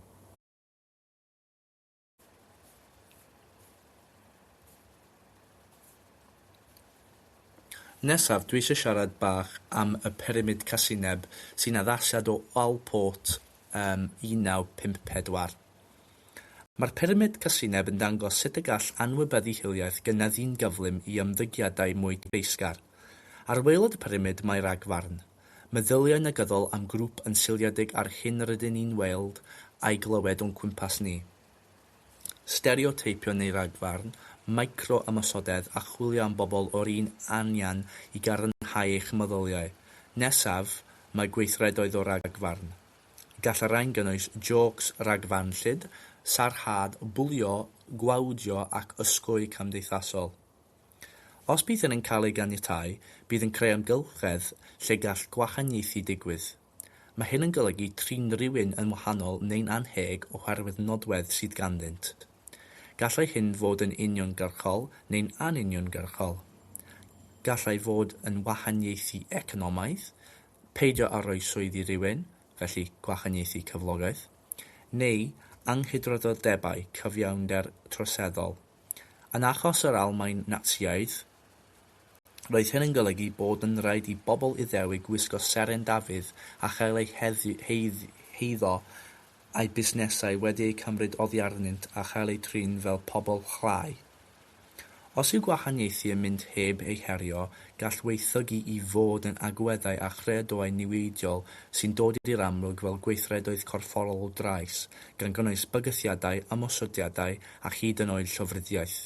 [SPEAKER 1] Nesaf dwi isio siarad bach am y pyramid casineb sy'n addasiad o Allport ym 1954. Mae'r pyramid casineb yn dangos sut y gall anwybyddu hiliaeth gynyddu'n gyflym i ymddygiadau mwy cyfeillgar. Ar waelod y pyramid mae ragfarn. Meddyliau negyddol am grŵp yn seiliedig ar hyn rydyn ni'n weld a'i glywed o'n cwmpas ni. Stereoteipio neu ragfarn, micro-ymosodedd a chwilio am bobl o'r un anian i gadarnhau eich meddyliau. Nesaf, mae gweithredoedd o ragfarn. Gall y rhain gynnwys jôcs ragfarnllyd, sarhad, bwlio, gwawdio ac ysgogi cymdeithasol. Os bydd hyn yn cael ei ganiatáu, bydd yn creu amgylchedd lle gall gwahaniaethu digwydd. Mae hyn yn golygu trin rhywun yn wahanol neu'n annheg oherwydd nodwedd sydd ganddynt. Gallai hyn fod yn uniongyrchol neu'n anuniongyrchol. Gallai fod yn wahaniaethu economaidd, peidio â rhoi swydd i rywun, felly gwahaniaethu cyflogaeth, neu anghydraddoldebau cyfiawnder troseddol. Yn achos yr Almaen Natsïaidd, roedd hyn yn golygu bod yn rhaid i bobl Iddewig wisgo seren Dafydd a chael eu heiddo a'u busnesau wedi eu cymryd oddi arnynt a chael eu trin fel pobl chlai. Os yw gwahaniaethu yn mynd heb ei herio, gall waethygu i fod yn agweddau a chreadoau niweidiol sy'n dod i'r amlwg fel gweithredoedd corfforol drais, gan gynnwys bygythiadau, ymosodiadau a hyd yn oed llofruddiaeth.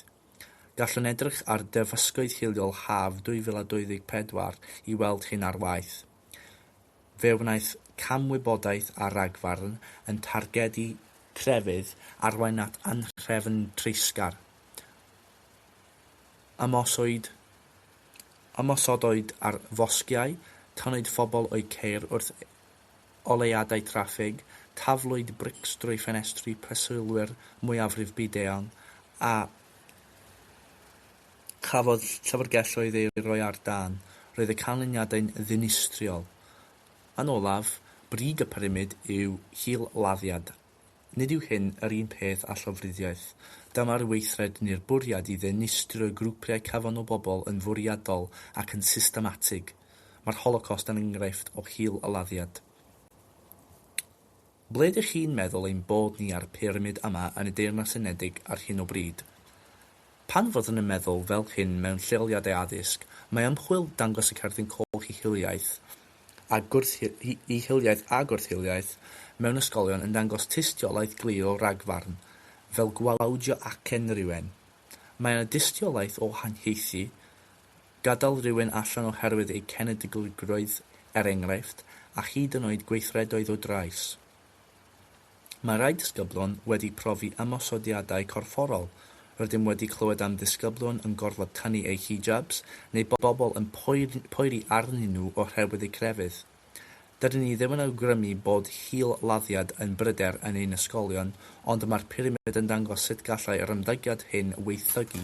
[SPEAKER 1] Gallwn edrych ar derfysgoedd hiliol haf 2024 i weld hyn ar waith. Fe wnaeth cam wybodaeth a rhagfarn yn targedu crefydd arwain at anhrefn treisgar. Ymoswyd ymosodwyd ar fosgiau, canwyd phobl o'u ceir wrth oleuadau traffig, taflwyd brics drwy ffenestri preswylwyr mwyafrif byd-eang a chafodd llyfrgelloedd eu rhoi ar dân, roedd y canlyniadau'n ddinistriol. Yn olaf, brig y pyramid yw hil-laddiad Nid yw hyn yr un peth â llofruddiaeth. Dyma'r weithred neu'r bwriad i ddinistrio grwpiau cyfan o bobl yn fwriadol ac yn systematig. Mae'r Holocost yn enghraifft o hil-aladdiad. Ble ydych chi'n meddwl ein bod ni ar y pyramid yma yn y Deyrnas Unedig ar hyn o bryd? Pan fyddwn yn meddwl fel hyn mewn lleoliadau addysg, mae ymchwil dangos y cerdyn coch i hiliaeth, a gwrth-hiliaeth a gwrth-hiliaeth mewn ysgolion yn dangos tystiolaeth glir o ragfarn, fel gwawdio acen rhywun. Mae yna dystiolaeth o haniaethu, gadael rhywun allan oherwydd eu cenedligrwydd er enghraifft, a hyd yn oed gweithredoedd o drais. Mae rhai disgyblion wedi profi ymosodiadau corfforol, rydym wedi clywed am ddisgyblion yn gorfod tynnu eu hijabs neu bobl yn poeri arnyn nhw oherwydd eu crefydd. Dydyn ni ddim yn awgrymu bod hil-laddiad yn bryder yn ein ysgolion, ond mae'r pyramid yn dangos sut gallai yr ymddygiad hyn waethygu.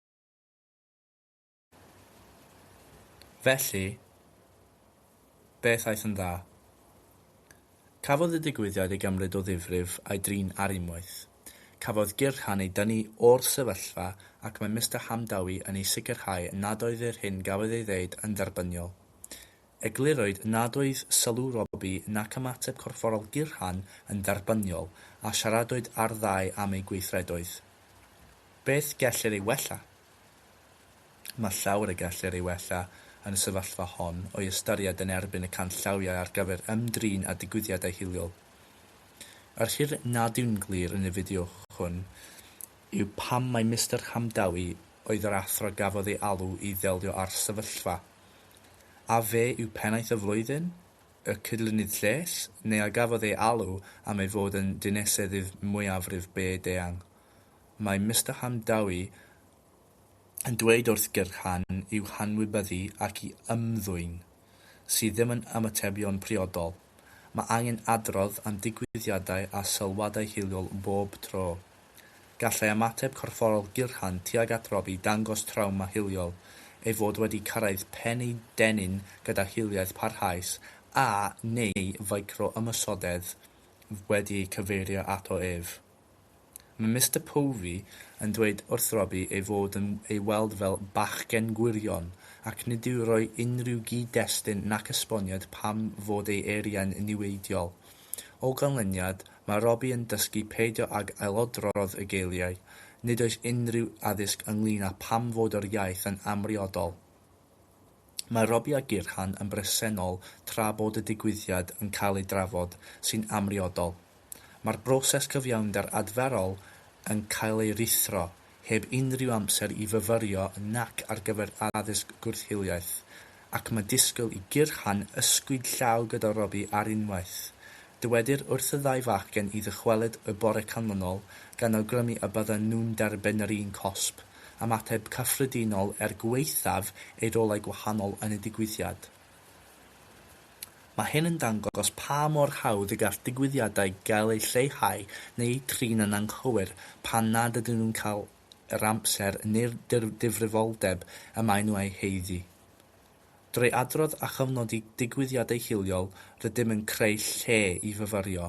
[SPEAKER 1] Felly, beth aeth yn dda? Cafodd y digwyddiad ei gymryd o ddifrif a'i drin ar unwaith. Cafodd Gyrchan ei dynnu o'r sefyllfa ac mae Mister Hamdawi yn ei sicrhau nad oedd yr hyn gafodd ei ddeud yn dderbyniol. Eglurwyd nad oedd sylw Robbie nac ymateb corfforol Gyrhan yn dderbyniol a siaradwyd â'r ddau am eu gweithredoedd. Beth gellir ei wella? Mae llawer y gellir ei wella yn y sefyllfa hon o'i ystyried yn erbyn y canllawiau ar gyfer ymdrin â digwyddiadau hiliol. Yr her nad yw'n glir yn y fideo hwn yw pam mai Mister Hamdawi oedd yr athro gafodd ei alw i ddelio â'r sefyllfa. A fe yw Pennaeth y Flwyddyn? Y Cydlynydd Lles? Neu a gafodd ei alw am ei fod yn Dineseddydd Mwyafrif Byd Eang? Mae Mister Hamdawi yn dweud wrth gyrchan i'w hanwybyddu ac i ymddwyn, sydd ddim yn ymatebion priodol. Mae angen adrodd am ddigwyddiadau a sylwadau hiliol bob tro. Gallai ymateb corfforol gyrhan tuag at Rob i dangos trawma hiliol, ei fod wedi cyrraedd pen ei dennyn gyda hiliaeth parhaus a, neu ficro-ymosodedd wedi ei cyfeirio ato ef. Mae Mister Povey yn dweud wrth Robbie ei fod yn ei weld fel bachgen gwirion ac nid yw rhoi unrhyw gyd-destun nac esboniad pam fod ei eiriau'n niweidiol. O ganlyniad, mae Robbie yn dysgu peidio ag ailodrodd y geiriau, nid oes unrhyw addysg ynglŷn â pham fod yr iaith yn amhriodol. Mae Robbie a Gyrhan yn bresennol tra bod y digwyddiad yn cael ei drafod, sy'n amhriodol. Mae'r broses cyfiawnder adferol yn cael ei ruthro, heb unrhyw amser i fyfyrio nac ar gyfer addysg gwrth-hiliaeth, ac mae disgwyl i Gyrhan ysgwyd llaw gyda Robbie ar unwaith. Dywedir wrth y ddau fachgen i ddychwelyd y bore canlynol, gan awgrymu y bydden nhw'n derbyn yr un cosb. am ateb cyffredinol er gwaethaf ei rolau gwahanol yn y digwyddiad. Mae hyn yn dangos pa mor hawdd y gall digwyddiadau gael eu lleihau neu eu trin yn anghywir pan nad ydyn nhw'n cael yr amser neu'r difrifoldeb y maen nhw eu haeddu. Drwy adrodd a chofnodi digwyddiadau hiliol rydym yn creu lle i fyfyrio,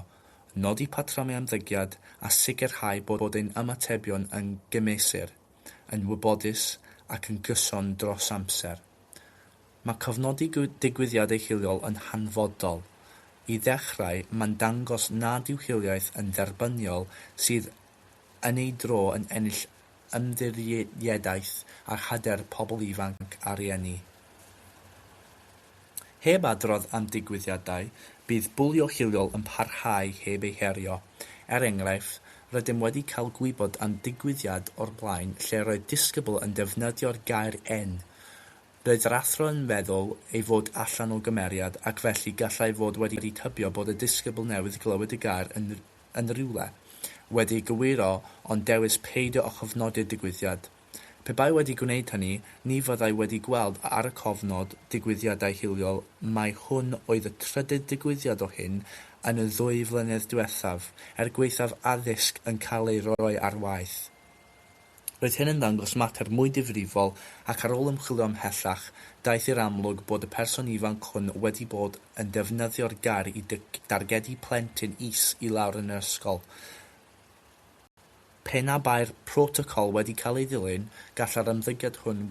[SPEAKER 1] nodi patrymau ymddygiad a sicrhau bod ein ymatebion yn gymesur, yn wybodus ac yn gyson dros amser. Mae cofnodi digwyddiadau hiliol yn hanfodol. I ddechrau, mae'n dangos nad yw hiliaeth yn dderbyniol sydd yn ei dro yn ennill ymddiriedaeth a hyder pobl ifanc a rhieni. Heb adrodd am ddigwyddiadau, bydd bwlio hiliol yn parhau heb ei herio. Er enghraifft, rydym wedi cael gwybod am ddigwyddiad o'r blaen lle roedd disgybl yn defnyddio'r gair 'en'. Roedd yr athro yn meddwl ei fod allan o gymeriad ac felly gallai fod wedi tybio bod y disgybl newydd glywed y gair yn yn rywle, wedi ei gywiro ond dewis peidio â chofnodi'r digwyddiad. Pe bai wedi gwneud hynny, ni fyddai wedi gweld ar y cofnod digwyddiadau hiliol mai hwn oedd y trydydd digwyddiad o hyn yn y ddwy flynedd diwethaf, er gwaethaf addysg yn cael ei roi ar waith. Roedd hyn yn ddangos mater mwy difrifol ac ar ôl ymchwilio ymhellach, daeth i'r amlwg bod y person ifanc hwn wedi bod yn defnyddio'r gair i dargedu plentyn is i lawr yn yr ysgol. Pe na bai'r protocol wedi cael ei ddilyn, gallai'r ymddygiad hwn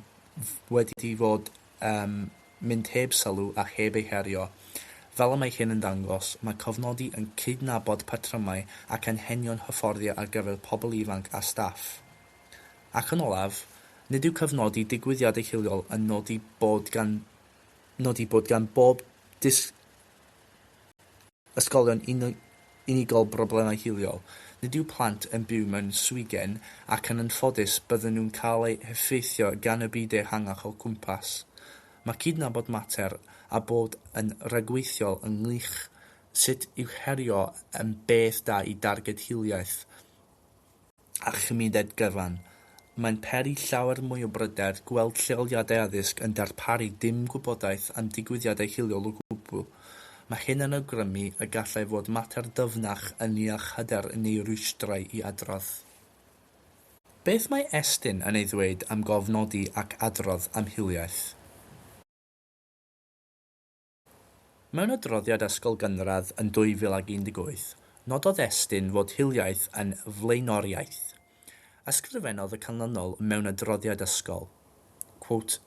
[SPEAKER 1] wedi fod yn mynd heb sylw a heb ei herio. Fel y mae hyn yn dangos, mae cofnodi yn cydnabod patrymau ac anghenion hyfforddio ar gyfer pobl ifanc a staff. Ac yn olaf, nid yw cofnodi digwyddiadau hiliol yn nodi bod gan nodi bod gan bob disgybl Ysgolion unigol Broblemau hiliol Nid yw plant yn byw mewn swigen ac yn anffodus bydden nhw'n cael eu heffeithio gan y byd ehangach o'u cwmpas. Mae cydnabod mater a bod yn ragweithiol ynghylch sut i'w herio yn beth da i darged hiliaeth. a chymuned gyfan, mae'n peri llawer mwy o bryder gweld lleoliadau addysg yn darparu dim gwybodaeth am digwyddiadau hiliol o gwbl. Mae hyn yn awgrymu y gallai fod mater dyfnach ynniach hyder neu rwystrau i adrodd. Beth mae Estyn yn ei ddweud am gofnodi ac adrodd am hiliaeth? Mewn adroddiad Ysgol Gynradd yn 2018, nododd Estyn fod hiliaeth yn flaenoriaeth. Ysgrifennodd y canlynol mewn adroddiad ysgol, quote,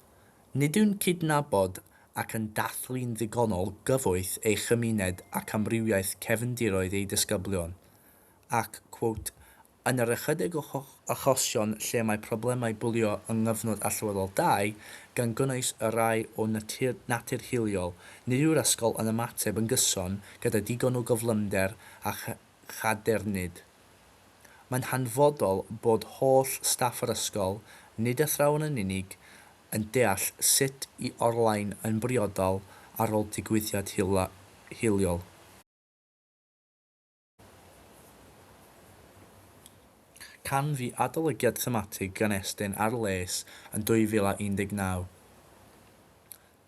[SPEAKER 1] Nid yw'n cydnabod ac yn dathlu'n ddigonol gyfoeth ei chymuned ac amrywiaeth cefndiroedd ei disgyblion, ac, quote, Yn yr ychydig o achosion lle mae problemau bwlio yng nghyfnod allweddol dau, gan gynnwys y rhai o natur hiliol, nid yw'r ysgol yn ymateb yn gyson gyda digon o gyflymder a chadernid. Mae'n hanfodol bod holl staff yr ysgol, nid athrawon yn unig, yn deall sut i orlain yn briodol ar ôl digwyddiad hiliol. Canfu adolygiad thematig gan Estyn ar les yn 2019.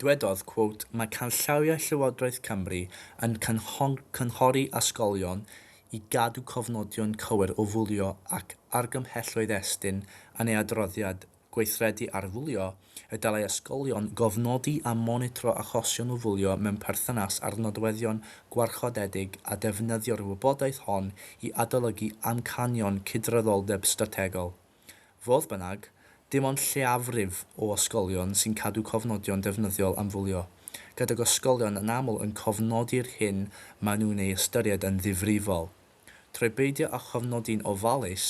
[SPEAKER 1] Dwedodd, quote, Mae canllawiau Llywodraeth Cymru yn cynghori ysgolion i gadw cofnodion cywir o fwlio ac argymhelloedd Estyn yn ei adroddiad gweithredu arfwlio, y dylai ysgolion gofnodi a monitro achosion o fwlio mewn perthynas â'r nodweddion gwarchodedig a defnyddio'r wybodaeth hon i adolygu amcanion cydraddoldeb strategol. Fodd bynnag, dim ond lleiafrif o ysgolion sy'n cadw cofnodion defnyddiol am fwlio, gydag ysgolion yn aml yn cofnodi'r hyn maen nhw'n ei ystyried yn ddifrifol. Trwy beidio â chofnodi'n ofalus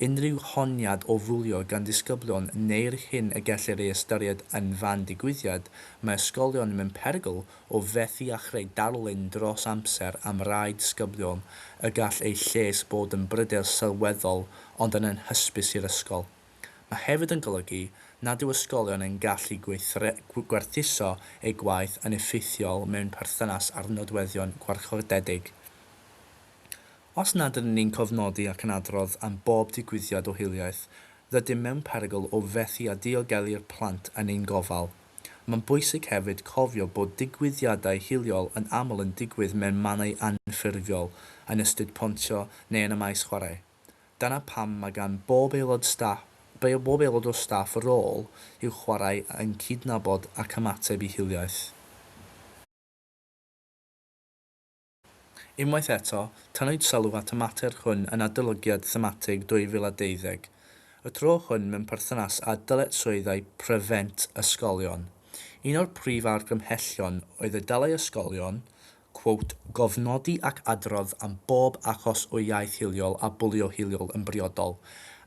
[SPEAKER 1] unrhyw honiad o fwlio gan ddisgyblion neu'r hyn y gellir ei ystyried yn fan digwyddiad, mae ysgolion mewn perygl o fethu â chreu darlun dros amser am rai disgyblion y gall eu lles bod yn bryder sylweddol ond yn anhysbys i'r ysgol. Mae hefyd yn golygu nad yw ysgolion yn gallu gwerthuso eu gwaith yn effeithiol mewn perthynas â'r nodweddion gwarchodedig. Os nad ydyn ni'n cofnodi ac yn adrodd am bob digwyddiad o hiliaeth, rydym mewn perygl o fethu â diogelu'r plant yn ein gofal. Mae'n bwysig hefyd cofio bod digwyddiadau hiliol yn aml yn digwydd mewn mannau anffurfiol, yn y stryd pontio neu yn y maes chwarae. Dyna pam mae gan bob aelod staff, bob aelod o staff rôl i'w chwarae yn cydnabod ac ymateb i hiliaeth. Unwaith eto, tynnwyd sylw at y mater hwn yn Adolygiad Thematig 2020, y tro hwn mewn perthynas â dyletswyddau pryfent ysgolion. Un o'r prif argymhellion oedd y dylai ysgolion, quote, gofnodi ac adrodd am bob achos o iaeth hiliol a bwlio hiliol yn briodol,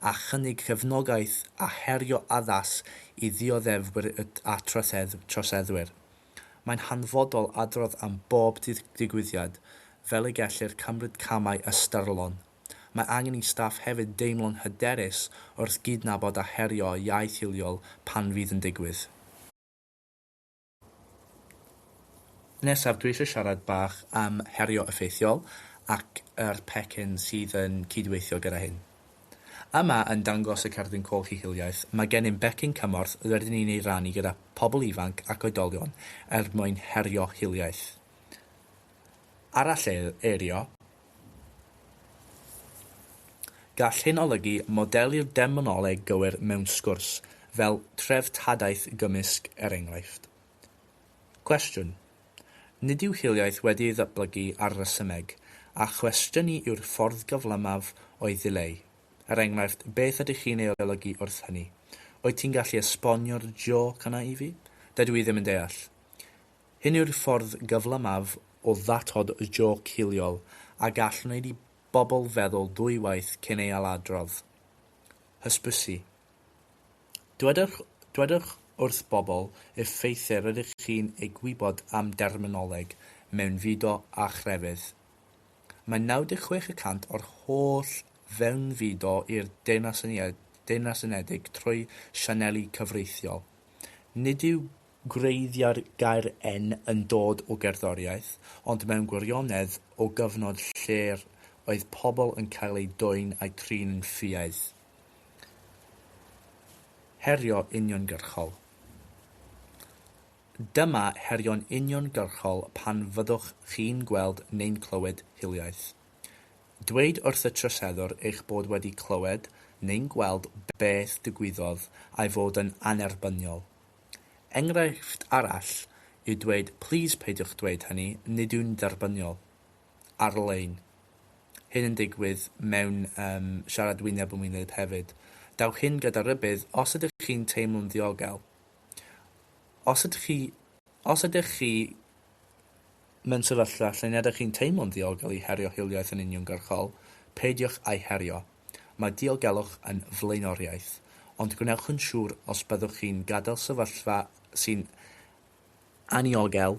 [SPEAKER 1] a chynnig cefnogaeth a herio addas i ddioddefwyr a troseddwyr. Mae'n hanfodol adrodd am bob digwyddiad fel y gellir cymryd camau ystyrlon. Mae angen i staff hefyd deimlo'n hyderus wrth gydnabod a herio iaith hiliol pan fydd yn digwydd. Nesaf dwi eisiau siarad bach am herio effeithiol ac yr pecyn sydd yn cydweithio gyda hyn. Yma yn dangos y Cerdyn Coch i Hiliaeth, mae gennym becyn cymorth rydyn ni'n ei rannu gyda phobl ifanc ac oedolion er mwyn herio hiliaeth. Aralleirio Gall hyn olygu modeli'r demonoleg gywir mewn sgwrs, fel treftadaeth gymysg er enghraifft. Cwestiwn, Nid yw hiliaeth wedi ei ddatblygu ar resymeg, a chwestiynu yw'r ffordd gyflymaf o'i ddileu. Er enghraifft, beth ydych chi'n ei olygu wrth hynny? Wyt ti'n gallu esbonio'r jôc yna i fi? Dydw i ddim yn deall. Hyn yw'r ffordd gyflymaf o ddatod jôc hiliol a gall wneud i bobl feddwl ddwywaith cyn ei ailadrodd. Hysbysu. Dwedwch, dwedwch wrth bobl y ffeithiau rydych chi'n eu gwybod am derminoleg mewnfudo a chrefydd. Mae 96 y cant o'r holl fewnfudo i'r Deyrnas Deyrnas Unedig trwy sianeli cyfreithiol. Nid yw gwreiddiau'r gair en yn dod o gerddoriaeth, ond mewn gwirionedd o gyfnod lle'r oedd pobl yn cael eu dwyn a'u trin yn ffiaidd. Herio uniongyrchol Dyma herio'n uniongyrchol pan fyddwch chi'n gweld neu'n clywed hiliaeth. Dweud wrth y troseddwr eich bod wedi clywed neu'n gweld beth digwyddodd a'i fod yn annerbyniol. Enghraifft arall yw dweud 'Plîs peidiwch dweud hynny, nid yw'n dderbyniol. ar-lein. Hyn yn digwydd mewn um, siarad wyneb yn wyneb hefyd. Dawch hyn gyda rhybudd os ydych chi'n teimlo'n ddiogel. Os ydych chi, os ydych chi mewn sefyllfa lle nad ydych chi'n teimlo'n ddiogel i herio hiliaeth yn uniongyrchol, peidiwch â'i herio. Mae diogelwch yn flaenoriaeth, ond gwnewch yn siŵr os byddwch chi'n gadael sefyllfa sy'n Anniogel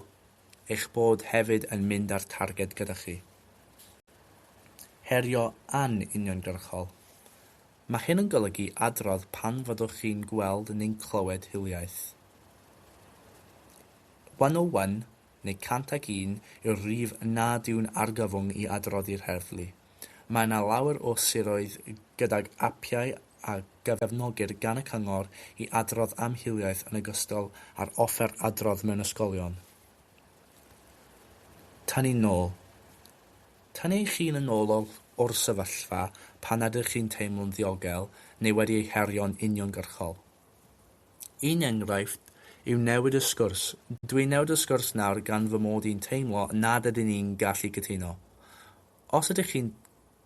[SPEAKER 1] eich bod hefyd yn mynd â'r targed gyda chi. Herio an-uniongyrchol. Mae hyn yn golygu adrodd pan fyddwch chi'n gweld neu'n clywed hiliaeth. 101 neu 101 yw'r rhif nad yw'n argyfwng i adroddi'r heddlu. Mae yna lawer o siroedd gydag apiau a gyfefnogir gan y cyngor i adrodd am hiliaeth yn ogystal â'r offer adrodd mewn ysgolion. Tynnu nôl. Tynnu eich hun yn ôl o'r sefyllfa pan ydych chi'n teimlo'n ddiogel neu wedi ei herio'n uniongyrchol. Un enghraifft yw newid y sgwrs, Dwi'n newid y sgwrs nawr gan fy mod i'n teimlo nad ydyn ni'n gallu cytuno. Os ydych chi'n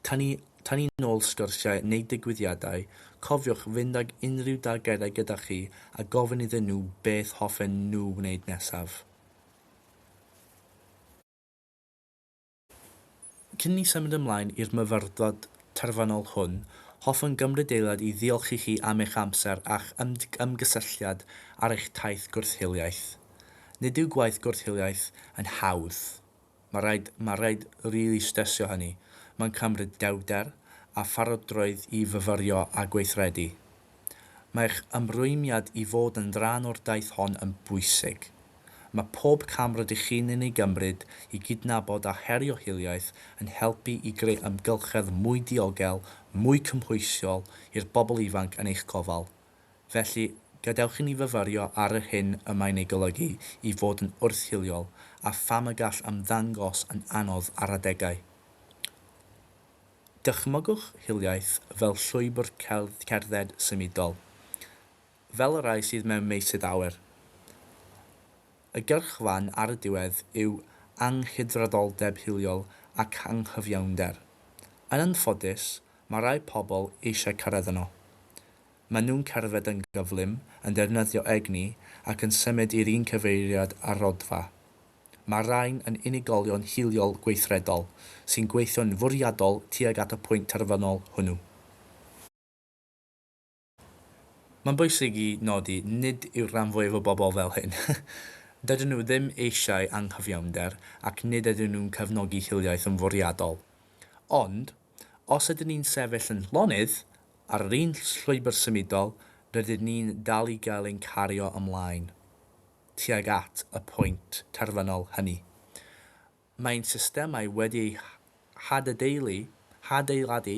[SPEAKER 1] tynnu tynnu nôl sgyrsiau neu ddigwyddiadau, cofiwch fynd ag unrhyw dargedau gyda chi a gofyn iddyn nhw beth hoffen nhw wneud nesaf. Cyn i ni symud ymlaen i'r myfyrdod terfynol hwn, hoffwn gymryd eiliad i ddiolch i chi am eich amser a'ch ymgysylltiad ar eich taith gwrth-hiliaeth. Nid yw gwaith gwrth-hiliaeth yn hawdd. Mae rhaid, mae rhaid rili stressio hynny. Mae'n cymryd dewrder a pharodrwydd i fyfyrio a gweithredu. Mae'ch ymrwymiad i fod yn rhan o'r daith hon yn bwysig. Mae pob cam rydych chi'n yn ei gymryd i gydnabod a herio hiliaeth yn helpu i greu amgylchedd mwy diogel, mwy cymhwysol i'r bobl ifanc yn eich gofal. Felly, gadewch i ni fyfyrio ar yr hyn y mae'n ei golygu i fod yn wrth-hiliol a pham y gall ymddangos yn anodd ar adegau. Dychmygwch hiliaeth fel llwybr cerdded symudol, fel y rhai sydd mewn meysydd awyr. Y gyrchfan ar y diwedd yw anghydraddoldeb hiliol ac anghyfiawnder. Yn anffodus, Mae rhai pobl eisiau cyrraedd yno. Maen nhw'n cerdded yn gyflym, yn defnyddio egni ac yn symud i'r un cyfeiriad â'r Rhodfa. Mae'r rhain yn unigolion hiliol gweithredol sy'n gweithio'n fwriadol tuag at y pwynt terfynol hwnnw. Mae'n bwysig i nodi, nid yw'r rhan fwyaf o bobl fel hyn. Dydyn nhw ddim eisiau anghyfiawnder ac nid ydyn nhw'n cefnogi hiliaeth yn fwriadol. Ond, os ydyn ni'n sefyll yn llonydd, ar yr un llwybr symudol, rydyn ni'n dal i gael ein cario ymlaen tuag at y pwynt terfynol hynny. Mae'n systemau wedi eu hadedaelu, hadeiladu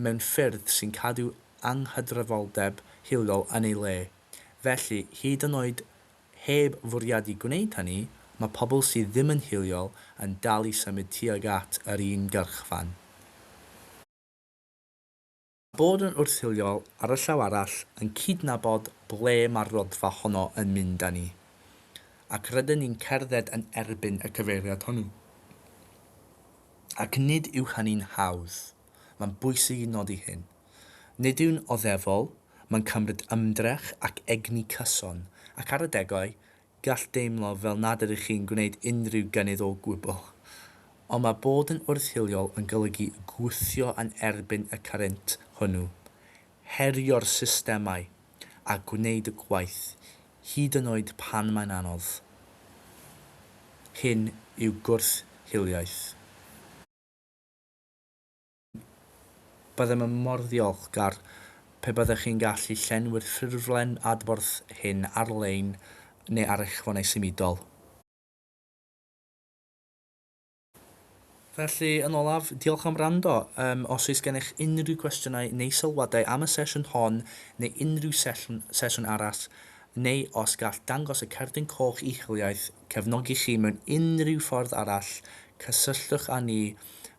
[SPEAKER 1] mewn ffyrdd sy'n cadw anghydraddoldeb hiliol yn ei le. Felly, hyd yn oed heb fwriadu gwneud hynny, mae pobl sydd ddim yn hiliol yn dal i symud tuag at yr un gyrchfan. Bod yn wrthiliol, ar y llaw arall, yn cydnabod ble mae'r rhodfa honno yn mynd â ni. Ac rydyn ni'n cerdded yn erbyn y cyfeiriad hwnnw. Ac nid yw hynny'n hawdd. Mae'n bwysig i nodi hyn. Nid yw'n oddefol, mae'n cymryd ymdrech ac egni cyson, ac ar adegau, Gall deimlo fel nad ydych chi'n gwneud unrhyw gynnydd o gwbl. Ond mae bod yn wrth-hiliol yn golygu gwthio yn erbyn y current hwnnw, herio'r systemau, a gwneud y gwaith, hyd yn oed pan mae'n anodd. Hyn yw gwrth-hiliaeth. Byddem yn mor ddiolchgar pe byddech chi'n gallu llenwi'r ffurflen adborth hyn ar-lein neu ar eich ffonau symudol. Felly, yn olaf, diolch am wrando. Yym, os oes gennych unrhyw gwestiynau neu sylwadau am y sesiwn hon neu unrhyw sesiwn, sesiwn arall, neu os gall dangos y cerdyn coch i'ch hiliaeth cefnogi chi mewn unrhyw ffordd arall, cysylltwch â ni